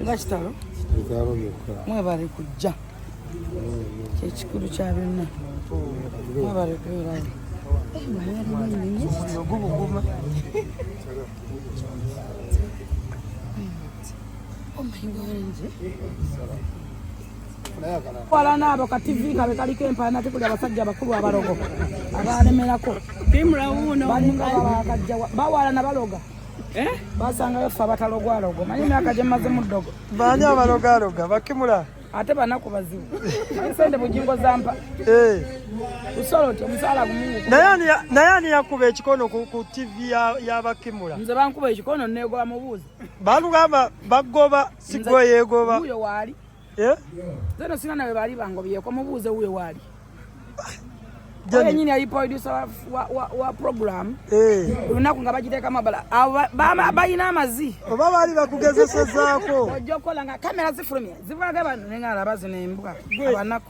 nga kitalo mwebale kujja kyekikulu kya byonna mwebale kubeerayo Oh my God. Wala nabo ka TV nga bekaliko empalana tekuli abasajja bakulu abalogo abalemerako bawalana baloga eh? basangayo ffe abatalogwalogo manyi emyaka gyemaze mu ddogo baani abalogaloga bakimula ate banaku bazibu sente bujingo zampa eh. usoloti omusaala gumungu naye ani yakuba ekikono ku tv yabakimula nze bankuba ekikono negoba mubuuzi balugamba bagoba sigwe yegoba uyo wali eh zero sina nawe bali bango biye kwa mubuze uyo wali Jani nyini ali producer wa, wa, wa, wa program eh unaku ngabajite kama bala bama bayina amazi baba bali bakugezesa zako ojokola nga kamera zifulumye zivula gaba nenga arabazi nembuka abanako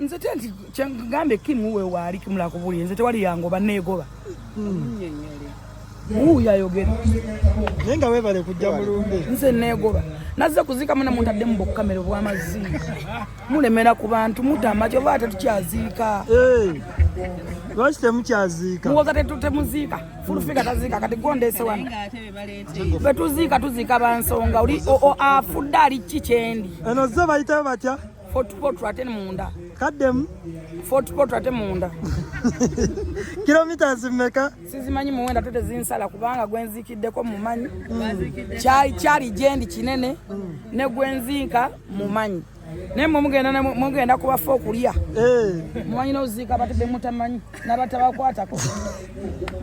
nze te nti kyengambe kimu we waali kimula kubuli nze tewali yangoba neegoba wuuyo ayogere naye nga webale kujja mulumbe nze neegoba nazze kuziika muna muntadde mu bukkamera obwamazzi mulemera ku bantu mutama kyova ate tukyaziika lwaki temukyaziika muwoza temuziika fulufiga taziika kati gondese wano betuziika tuziika bansonga oli afudde ali kki kyendi eno zze bayitayo batya Fort Portal ate munda. Kadem. Fort Portal ate munda. Kilometers mmeka? Sizimanyi muwenda tote zinsala kubanga gwenzikiddeko mumanyi. Mm. Chai chari jendi kinene mm. ne gwenzinka mumanyi. naye mwemugenda mugenda kubafa okulya eh. mumanyi noziika batadde mutamanyi nabatabakwatako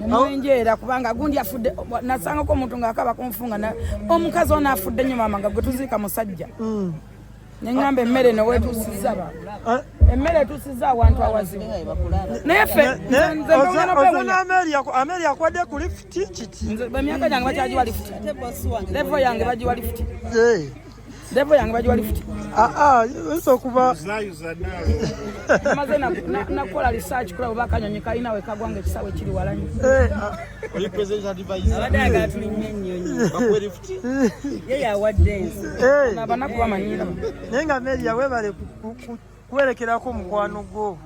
nemwenjeera kubanga gundi afudde nasangako omuntu ngaakaba kunfunga omukazi ono afudde nyo maama nga gwetuziika musajja mm. neŋamba emmere newetusiza eh? emmere etusiza awantu awazibu naye fenameri akwade ku lifuti kiki emyaka gyange bakyagiwa lifuti levo yange bagiwa lifuti levo yange bagiwa lifuti oyinza okuba maze nakukola research kula oba akanyonyi kalina we kagwa nga ekisawe kiri walanyi eh, ah. yeye awadde ensi abanaku bamanyira naye nga meria webale kuwerekerako mukwano gwo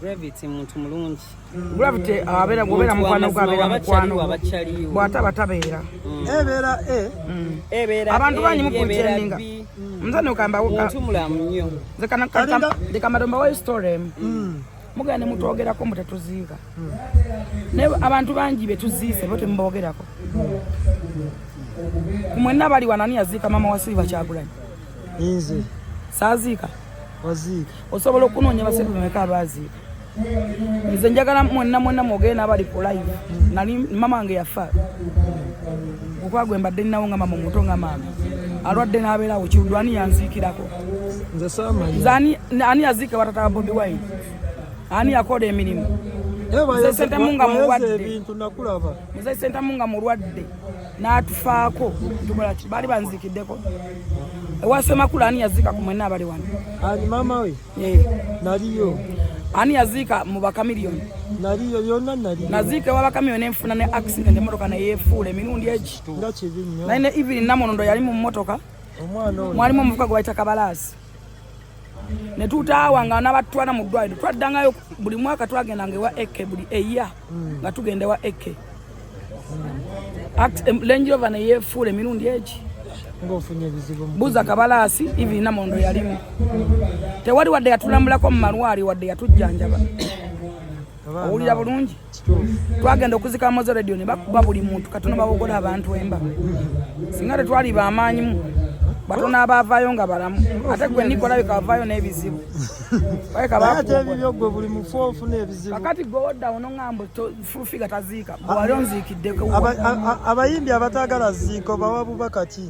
gravity muntu mulungi gravity abeera gwobeera mukwano gwo abeera mukwano bwataba tabeera mm. ebeera eh? mm. ebeera abantu eh, bangi mukuntendinga mzani ukamba muntu mulamu nnyo nze kanakamada mbawayo story emu mm. mugenda ne mutwogerako mbu tetuziika naye abantu bangi betuziise bo temubogerako kumwenna abali wanani yaziika mama wa silva kyagulanyi nze saaziika waziika osobola okunoonya basebe bameka abaaziika nze njagala mwenna mwenna mwogere n'abali ku live nali mama wange yafa okwagwe mbadde ninawo nga mama omuto nga maama alwadde n'abeerawo kiwudwani yanziikirako nze saamanya ani yaziika watata wa bobi wine ani yakola emirimu muze sentamu nga mulwadde muze sentamu nga mulwadde n'atufaako tukola ki baali banzikiddeko ewasemakula ani yaziika ku mwena abali wano ani maama we naliyo ani yaziika mu bakamiliyoni naliyo yonna naliyo naziika ewa bakamiliyoni enfuna ne accident emotoka neyefuula emirundi egi naye ne evelyn namunondo yali mu motoka mwalimu omuvuka gwe bayita kabalaasi ne tutaawa nga nabatutwala mu ddwaliro twaddangayo buli mwaka twagendanga ewa eke buli eya hmm. nga tugenda ewa eke hmm. lenjirova neyefuula emirundi egi buza kabalaasi ivi namondo yalimu tewali wadde yatulambulako mu malwali wadde yatujjanjaba owulira bulungi twagenda okuzika mozo radio ne bakuba buli muntu katono babogola abantu emba singa tetwali bamaanyimu batona abavaayo nga balamu ate gwe nikola bikavaayo n'ebizibu kakati gweodda ono ngambo fulufiga taziika gwewali onziikiddeko abayimbi abatagala ziiko bawa bubakaki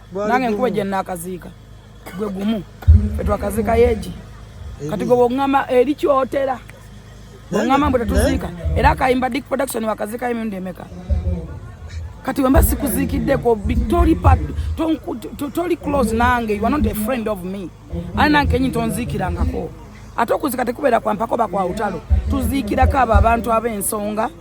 nange nkuba gye nnaakaziika gwe gumu fe twakaziika yeegi kati gwe bwongamba eri kyotera bwongamba mbu tetuziika era akayimba dick production wakaziika emirundi emeka kati wemba sikuziikiddeko toli pat toli close nange you are not a friend of me ani nange kenyi tonziikirangako ate okuzika tekubeera kwampako bakwawutalo tuziikirako abo abantu ab'ensonga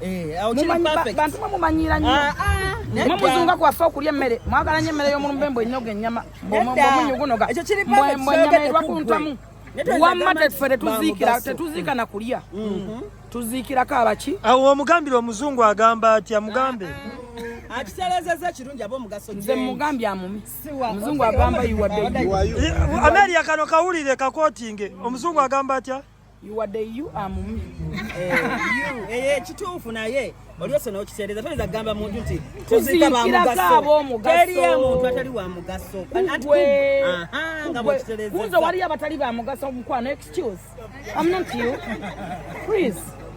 Eh, bantu mwe mumanyiira nnyo ah, ah, mwe muzunga kwaffe okulya emmere mwagala nnyo emmere y'omulumbe mbu enyoga ennyama mbumunyu gunoga mbu ennyama erwa ku ntamu wamma teffe tetuziikira tetuziika na kulya mm-hmm. tuziikirako abaki awo omugambire omuzungu agamba atya mugambe ah, akitereezezza ekirungi aba omugaso nze mugambye amumi omuzungu agamba iwadeameriya eh, kano kawulire kakotinge omuzungu agamba atya iwadde u amumy eh, eh, eh, kituufu naye olyose nokiseereza toyinza kugamba muntu nti tuziika bamugasoteliyo muntu atali wa mugaso nga bwekiterezaunze waliyo abatali ba mugaso mukwano excuse am not you please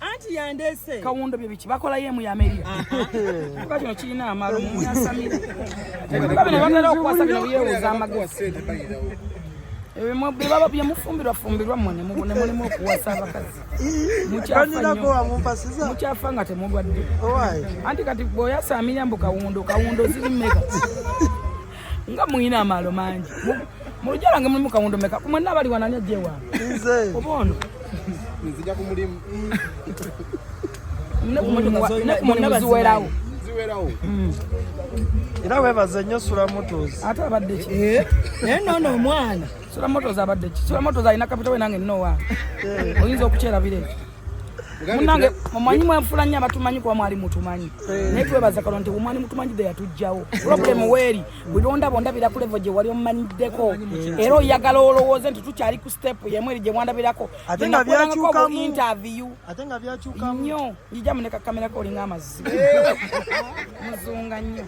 anti yandese kawundo bye biki bakola ye mu yameria kuba kino kirina amalo mu yasamira ebikuba bino batera okuwasa bino byewuza amagezi bebaba byemufumbirwa fumbirwa mune mubone mulimu okuwasa abakazi mukyafa nga temulwadde anti kati bweoyasamira mbu kawundo kawundo ziri meka nga muyina amaalo mangi mulujja lwange mulimu kawundo meka kumwenna abali wanani ajjewa oba ono nzija ku mulimu ziwerawo mm. era webaze nnyo sulamotos ate abadde ki eh? naye nono omwana sulamotos abadde ki sulamotos alina kapita we nange nnowa eh. oyinza okukyerabira ekyo munange mumanyi mwenfula nnyo abatumanyi kuba mwali mutumanyi eh. naye twebaza kalo nti omwali mutumanyi de yatujjawo problem weeri bulonda bondabira ku levo gye wali omumanyiddeko eh. era oyagala olowooze nti tukyali ku step yemu eri gye mwandabirako interview nnyo njija muneka kamerako olinga amazzi eh. muzunga nnyo